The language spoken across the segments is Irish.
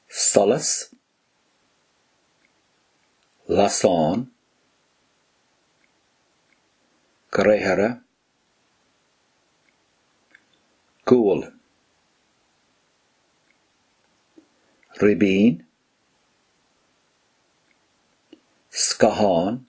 solas, lasán, gréithre, gual, ribín, scáthán.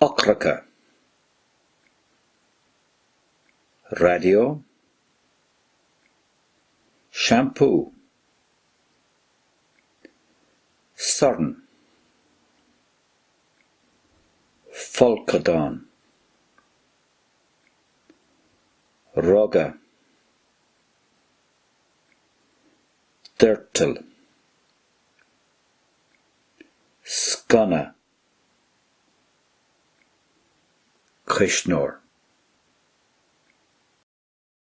eochracha, raidió, seampú, sorn, folcadán, ruga, doirteal, sconna, cuisneoir.